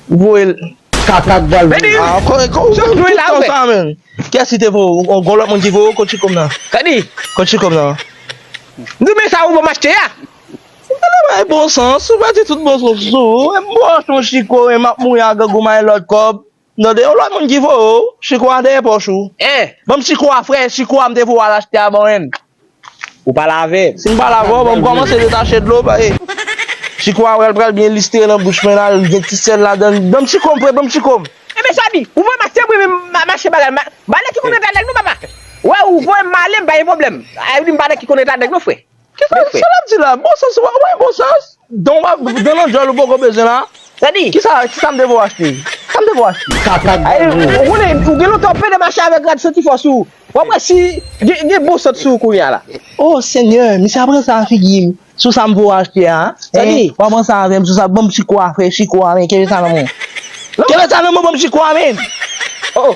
Ou voye l kaka k bal voye. Ah ok ok ou fè tout tan sa menm. Kiyès ki te voye w? Ou gon lòt moun ki voye w kot chikom nan? Kadi. Kot chikom nan. M di w men sa ou ban m achte a. Ou pa nan bay bon sans, ou pa di tout bon sans ou sou ou. M pou achte yon chiko men map mouri a grangou mayen lòt kòb. Tande yon lòt moun ki voye w. Chiko a dèyè pòch ou. Hein. Ban m chiko a frè, chiko a m te voye w al achte a ban m. Ou pa lave? Si m pa lave w, ban m kòmanse detache dlo paske Chiko a pral pral byen listre nan bouch mwen la, li gen ti sèl ladan l. Ban m Chiko m prè, ban m Chiko m. E men Samy, ou voye m achte bri men m achte bagay m. Bale ki konn eta nèg non papa. Wè ou voye m m ale m pa gen pwoblèm. Evelyn bale ki konn eta nèg non frè. Kisa l ap di la? Bon sans, wè w gen bon sans? Don wap don nan djòl ou poko bezwen la. Sa di. Kisa kisam te vo achte. Sam te vo achte. Kaka grangou. Ou konnen ou gen lontan ou pede mache avèk rad santi fò sou ou. Wap wè si gen bon sant sou ou kounya la. Oh senyè misye ap ranse a figim. Sou sam vo achte a. Sa di. Wap ranse avèm sou sa banm chiko a frè chiko a men kenbe sa nan menw. Kenbe sa nan menw banm chiko a men. Oh oh.